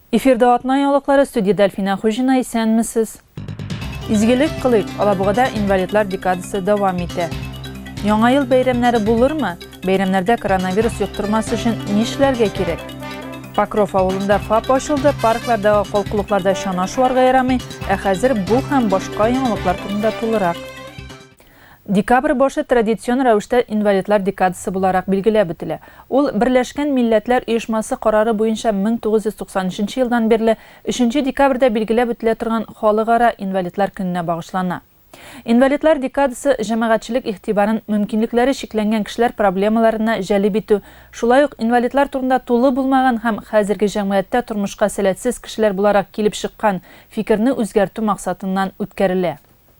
Эфирда атна яңалыклары студияда Әлфинә Хуҗина исәнмесез. Изгелек кылыйк, Алабугада инвалидлар декадасы дәвам итә. Яңа ел бәйрәмнәре булырмы? Бәйрәмнәрдә коронавирус йоктырмас өчен нишләргә кирәк? Покров авылында ФАП ачылды, парклардагы калкулыкларда чана шуарга ярамый, ә хәзер бу һәм башка яңалыклар турында тулырак. Декабрь башы традицион рәвештә инвалидлар декадасы буларак билгеләп үтелә. Ул Берләшкән милләтләр оешмасы карары буенча 1993 елдан бирле өченче декабрьдә билгеләп үтелә торган Халыкара инвалидлар көненә багышлана. Инвалидлар декадасы җәмәгатьчелек игътибарын мөмкинлекләре чикләнгән кешеләр проблемаларына җәлеп итү, шулай ук инвалидлар турында тулы булмаган һәм хәзерге җәмгыятьтә тормышка сәләтсез кешеләр буларак килеп чыккан фикерне үзгәртү максатыннан үткәрелә.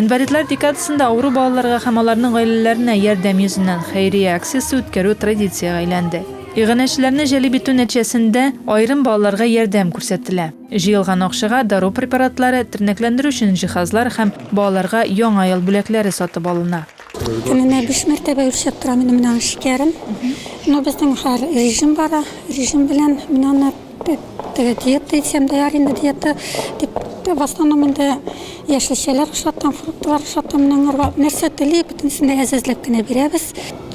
Инвалидлар декадасында авыру балаларга һәм аларның гаиләләренә ярдәм йөзеннән хәйрия акциясе үткәрү традициягә әйләнде. Иганәчеләрне җәлеп итү нәтиҗәсендә, аерым балаларга ярдәм күрсәтелә. Җыелган акчага дару препаратлары, тернәкләндерү өчен җиһазлар һәм балаларга Яңа ел бүләкләре сатып алына. Көненә биш мәртәбә үлчәп торам инде менә шикәрен. Ну безнең хәр режим бара. Режим белән мин аны теге диета дисәм дә яр инде диета дип в основном инде яшелчәләр ашатам, фруктлар ашатам. Менә аңарга нәрсә тели, бөтенесен дә әзәзләп кенә бирәбез.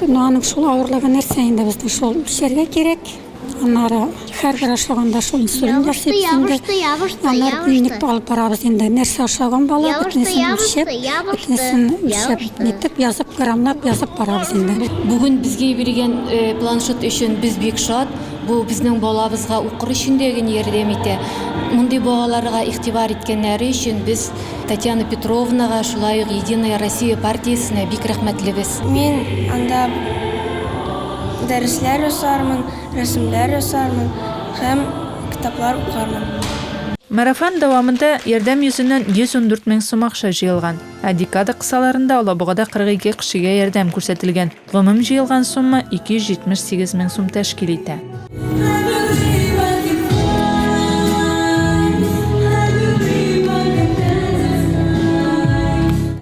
Ну аның шул авырлыгы нәрсә инде безнең шул үлчәргә кирәк. Аннары хәрбер ашлаганда шул инсулин ясыйбыз инде. Ябышты, ябышты, Аннары дневник алып барабыз инде. Нәрсә ашаган бала, бөтенесен үлчәп, бөтенесен үлчәп, нитеп язып, граммлап язып барабыз инде. Бүген безгә биргән э, планшет өчен без бик шат. Бу безнең балабызга укыр өчен дә генә ярдәм итә. Мондый балаларга игътибар иткәннәре өчен без Татьяна Петровнага, шулай ук Единая Россия партиясенә бик рәхмәтлебез. Мин анда Дәресләр ясармын, рәсемнәр ясармын һәм китаплар укырмын. Марафон дәвамында Ярдәм йөзеннән 114 мең сум акча җыелган, ә декада кысаларында Алабугада 42 кешегә ярдәм күрсәтелгән. Гомум җыелган сумма 278 мең сум тәшкил итә.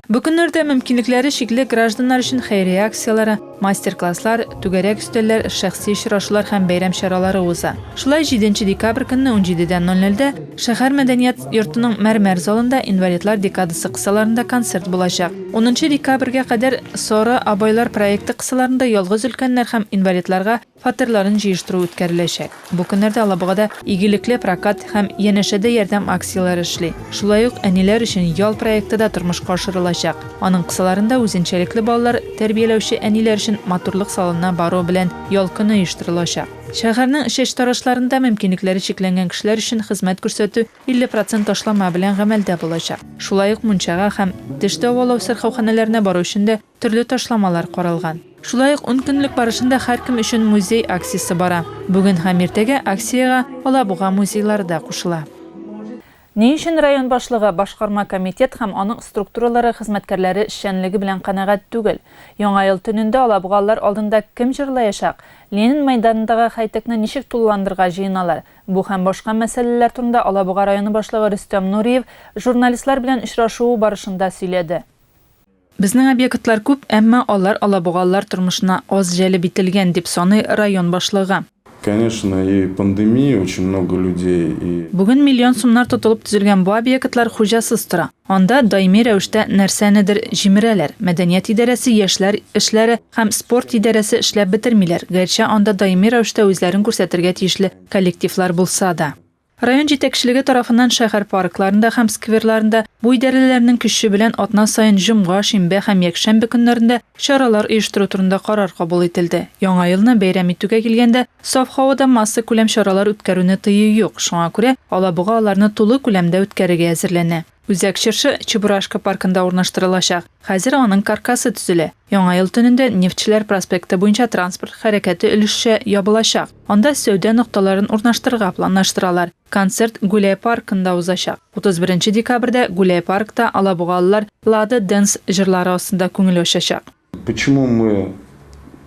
Бу көннәрдә мөмкинлекләре чикле гражданнар өчен хәйрия акцияләре, Мастер-класслар, түгәрәк өстәлләр, шәхси очрашулар һәм бәйрәм чаралары уза. Шулай 7 декабрь көнне 17 дән 00 дә шәһәр мәдәният йортының мәрмәр залында инвалидлар декадасы кысаларында концерт булачак. 10 декабрьгә кадәр Соры абайлар проекты кысаларында ялгыз өлкәннәр һәм инвалидларга фатирларын җыештыру үткәреләчәк. Бу көннәрдә Алабугада Игелекле прокат һәм Янәшәдә ярдәм акцияләре эшли. Шулай ук Әниләр өчен ял проекты да тормышка ашырылачак. Аның кысаларында үзенчәлекле балалар тәрбияләүче әниләр өчен матурлык салонына бару белән ял көне оештырылачак. Шәһәрнең чәчтарашларында мөмкинлекләре чикләнгән кешеләр өчен хезмәт күрсәтү 50 процент ташлама белән гамәлдә булачак. Шулай ук мунчага һәм теш дәвалау сырхауханәләренә бару өчен дә Төрле ташламалар каралган. Шулай ук ун көнлек барышында һәркем өчен музей акциясе бара. Бүген һәм иртәгә акциягә Алабуга музейлары да кушыла. Ни өчен район башлыгы, башкарма комитет һәм аның структуралары хезмәткәрләре эшчәнлеге белән канәгать түгел? Яңа ел төнендә алабугалылар алдында кем җырлаячак? Ленин мәйданындагы хәйтекне ничек тулыландырырга җыеналар? Бу һәм башка мәсьәләләр турында Алабуга районы башлыгы Рөстәм Нуриев журналистлар белән очрашуы барышында сөйләде. Безнең объектлар күп, әмма алар алабугалылар тормышына аз җәлеп ителгән, дип саный район башлыгы. Конечно, и пандемия очень много людей и. Бүген миллион сумнар тотылып төзелгән бу объектлар хуҗасыз тора. Анда даими рәвештә нәрсәнедер җимерәләр. Мәдәният идарәсе, яшьләр эшләре һәм спорт идарәсе эшләп бетермиләр, гәрчә анда даими рәвештә үзләрен күрсәтергә тиешле коллективлар булса да. Район җитәкчелеге тарафыннан шәһәр паркларында һәм скверларында бу идарәләрнең көче белән атна саен җомга, шимбә һәм якшәмбе көннәрендә чаралар оештыру турында карар кабул ителде. Яңа елны бәйрәм итүгә килгәндә, саф һавада массакүләм чаралар үткәрүне тыю юк, шуңа күрә Алабуга аларны тулы күләмдә үткәрергә әзерләнә. Үзәк чыршы Чебурашка паркында урнаштырылачак. Хәзер аның каркасы төзелә. Яңа ел төнендә Нефтьчеләр проспекты буенча транспорт хәрәкәте өлешчә ябылачак. Анда сәүдә нокталарын урнаштырырга планлаштыралар. Концерт Гуляй паркында узачак. 31 декабрьдә Гуляй паркта алабугалылар Лада Dance җырлары астында күңел ачачак. Почему мы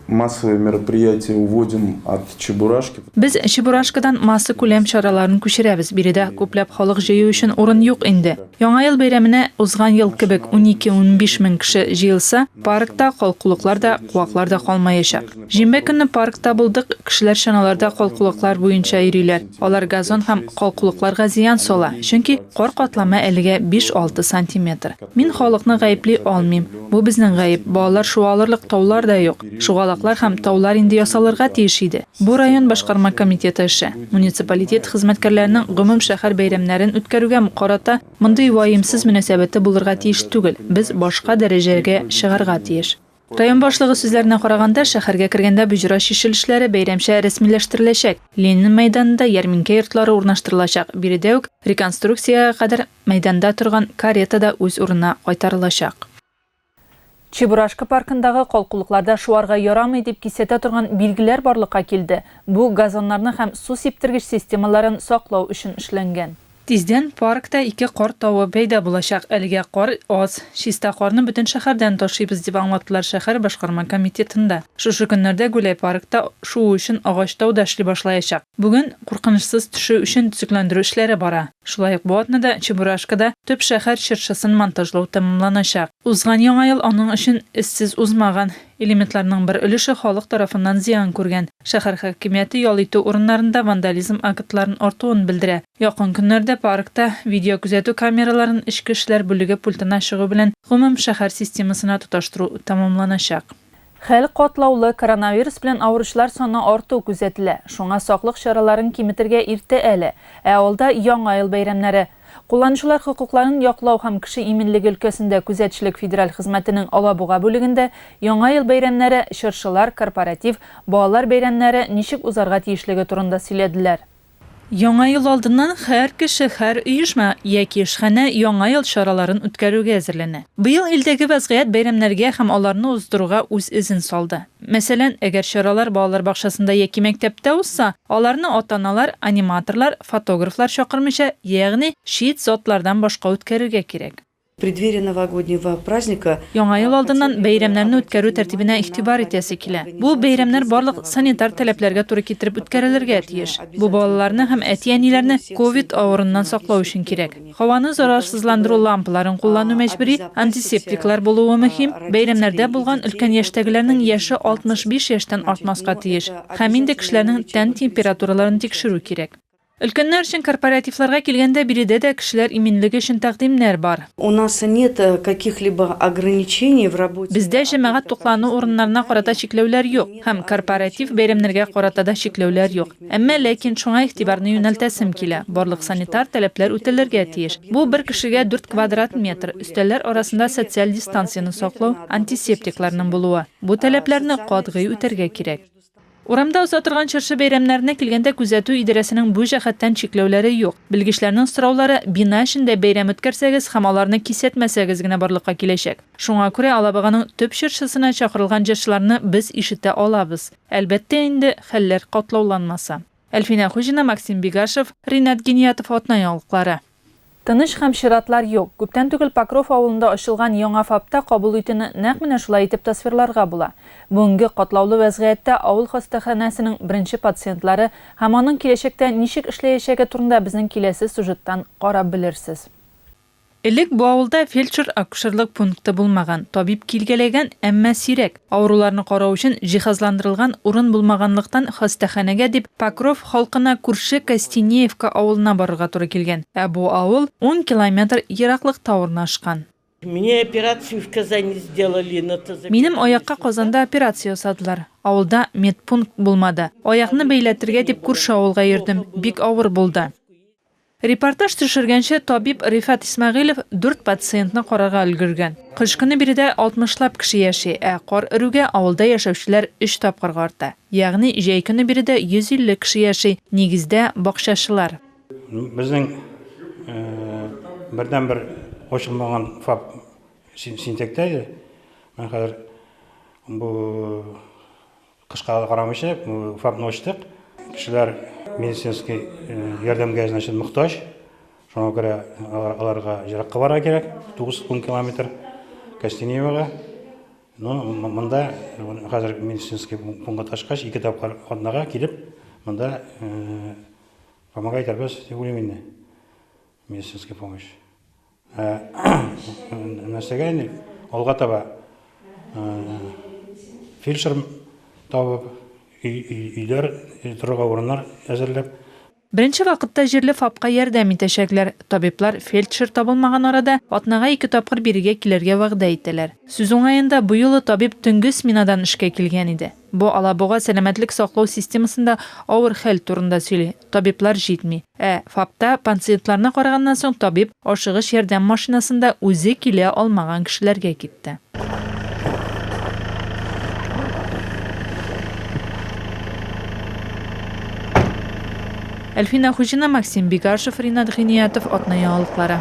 массовые мероприятия уводим от Чебурашки? Без Чебурашкадан массакүләм чараларын күчерәбез, биредә күпләп халык җыю өчен урын юк инде. Яңа ел бәйрәменә узган ел кебек унике-унбиш мең кеше җыелса, паркта калкулыклар да, куаклар да калмаячак. Җимбә көнне паркта булдык, кешеләр чаналарда калкулыклар буенча йөриләр. Алар газон һәм калкулыкларга зыян сала, чөнки кар катламы әлегә биш-алты сантиметр. Мин халыкны гаепли алмыйм. Бу безнең гаеп, балалар шуа алырлык таулар да юк. Шугалаклар һәм таулар инде ясалырга тиеш иде. Бу район башкарма комитеты эше. Муниципалитет хезмәткәрләренең гомум шәһәр бәйрәмнәрен үткәрүгә карата мондый ваемсыз мөнәсәбәте булырга тиеш түгел, без башка дәрәҗәгә чыгарга тиеш. Район башлыгы сүзләренә караганда, шәһәргә кергәндә боҗра чишелешләре бәйрәмчә рәсмиләштереләчәк, Ленин мәйданында ярминкә йортлары урнаштырылачак, биредә үк реконструкциягә кадәр мәйданда торган карета да үз урынына кайтарылачак. Чебурашка паркындагы калкулыкларда шуарга ярамый дип кисәтә торган билгеләр барлыкка килде, бу газоннарны һәм су сиптергеч системаларын саклау өчен эшләнгән. Тиздән паркта ике кар тавы пәйда булачак. Әлегә кар аз. Чиста карны бөтен шәһәрдән ташыйбыз, дип аңлаттылар шәһәр башкарма комитетында. Шушы көннәрдә Гуляй паркта шуу өчен агач тау да эшли башлаячак. Бүген куркынычсыз төшү өчен төзекләндерү эшләре бара. Шулай ук бу атнада Чебурашкада төп шәһәр чыршысын монтажлау тәмамланачак. Узган Яңа ел аның өчен эзсез узмаган. Элементларның бер өлеше халык тарафыннан зыян күргән. Шәһәр хакимияте ял итү урыннарында вандализм актларын артуын белдерә. Якын көннәрдә паркта видеокүзәтү камераларын эчке эшләр бүлеге пультына чыгу белән гомум шәһәр системасына тоташтыру тәмамланачак. Хәл катлаулы, коронавирус белән авыручылар саны арту күзәтелә. Шуңа саклык чараларын киметергә иртә әле. Ә алда Яңа ел бәйрәмнәре. Кулланучылар хокукларын яклау һәм кеше иминлеге өлкәсендә күзәтчелек федераль хезмәтенең Алабуга бүлегендә Яңа ел бәйрәмнәре, чыршылар, корпоратив, балалар бәйрәмнәре ничек узарга тиешлеге турында сөйләделәр. Яңа ел алдыннан һәр кеше, һәр оешма яки эшханә Яңа ел чараларын үткәрүгә әзерләнә. Быел илдәге вәзгыять бәйрәмнәргә һәм аларны уздыруга үз эзен салды. Мәсәлән, әгәр чаралар балалар бакчасында яки мәктәптә узса, аларны ата-аналар, аниматорлар, фотографлар чакырмыйча, ягъни чит затлардан башка үткәрергә кирәк. В преддверии новогоднего праздника. Яңа ел алдыннан бәйрәмнәрне үткәрү тәртибенә игътибар итәсе килә. Бу бәйрәмнәр барлык санитар таләпләргә туры китереп үткәрелергә тиеш. Бу балаларны һәм әти-әниләрне ковид авыруыннан саклау өчен кирәк. Һаваны зарарсызландыру лампаларын куллану мәҗбүри, антисептиклар булуы мөһим, бәйрәмнәрдә булган өлкән яшьтәгеләрнең яше 65 яшьтән артмаска тиеш һәм инде кешеләрнең тән температураларын тикшерү кирәк. Өлкәннәр өчен корпоративларга килгәндә биредә дә кешеләр иминлеге өчен тәкъдимнәр бар. Бездә җәмәгать туклану урыннарына карата чикләүләр юк һәм корпоратив бәйрәмнәргә карата да чикләүләр юк. Әмма ләкин шуңа игътибарны юнәлтәсем килә, барлык санитар таләпләр үтәлергә тиеш. Бу, бер кешегә дүрт квадрат метр, өстәлләр арасында социаль дистанцияне саклау, антисептикларның булуы. Бу таләпләрне катгый үтәргә кирәк. Урамда уза торган чыршы бәйрәмнәренә килгәндә күзәтү идарәсенең бу җәһәттән чикләүләре юк. Белгечләрнең сораулары бина эчендә бәйрәм үткәрсәгез һәм аларны кисәтмәсәгез генә барлыкка киләчәк. Шуңа күрә Алабуганың төп чыршысына чакырылган җырчыларны без ишетә алабыз. Әлбәттә инде, хәлләр катлауланмаса. Әлфинә Хуҗина, Максим Бигашев, Ринат Гениятов Атна яңалыклары. Тыныч һәм чиратлар юк. Күптән түгел Покров авылында ачылган яңа ФАПта кабул итүне нәкъ менә шулай итеп тасвирларга була. Бүгенге катлаулы вәзгыятьтә авыл хастаханәсенең беренче пациентлары һәм аның киләчәктә ничек эшләячәге турында безнең киләсе сюжеттан карап белерсез. Элек бу авылда фельдшер-акушерлык пункты булмаган, табиб килгәләгән, әмма сирәк, авыруларны карау өчен җиһазландырылган урын булмаганлыктан хастаханәгә дип Покров халкына күрше Костенеевка авылына барырга туры килгән, ә бу авыл ун километр ераклыкта урнашкан. Минем аякка Казанда операция ясадылар. Авылда медпункт булмады. Аякны бәйләтергә дип күрше авылга йөрдем, бик авыр булды. Репортаж төшергәнче, табиб Рифат Исмәгыйлев дүрт пациентны карарга өлгергән. Кыш көне биредә алтмышлап кеше яши, ә кар өрүгә авылда яшәүчеләр өч тапкырга арта. Ягъни җәй көне биредә 150 кеше яши, нигездә, бакчачылар. Безнең бердәнбер ачылмаган фап Синтектә иде. Менә хәзер бу Кышка да карамыйча, фабны ачтык. Кешеләр медицинский ярдәмгә, значит, мохтаҗ. Шуңа күрә аларга еракка барырга кирәк, 9-10 километр Костеневоға. Ну, монда хәзер медицинский пунктка ташкач, ике тапкыр атнага килеп, монда помогать итәрбез, дип уйлыйм инде. Медицинская помощь. Нәрсәгә инде алга таба фельдшер табып, өйләр, торырга урыннар әзерләп. Беренче вакытта җирле ФАПка ярдәм итәчәкләр. Табиблар фельдшер табылмаган арада атнага ике тапкыр бирегә килергә вәгъдә итәләр. Сүз уңаенда, бу юлы табиб төнге сменадан эшкә килгән иде. Бу Алабуга сәламәтлек саклау системасында авыр хәл турында сөйли. Табиблар җитми. Ә ФАПта панциентларына караганнан соң табиб ашыгыч ярдәм машинасында үзе килә алмаган кешеләргә китте. Әлфинә Хуҗина, Максим Бигашев, Ринат Гыйниятов, Атна яңалыклары.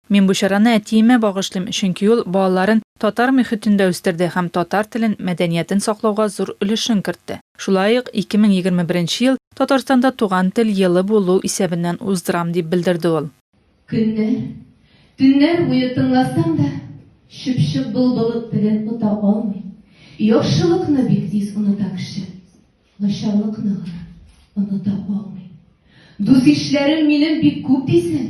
Мин бу чараны әтиемә багышлыйм, чөнки ул балаларын татар мөхитендә үстерде һәм татар телен, мәдәниятен саклауга зур өлешен кертте. Шулай ук 2021 ел Татарстанда Туган тел елы булу исәбеннән уздырам, дип белдерде ул. Көннәр, төннәр буе тыңласаң да, чыпчык былбылы телен ота алмый. Яхшылыкны бик тиз оныта кеше, начарлыкны гына оныта алмый. Дус-ишләрем минем бик күп дисең.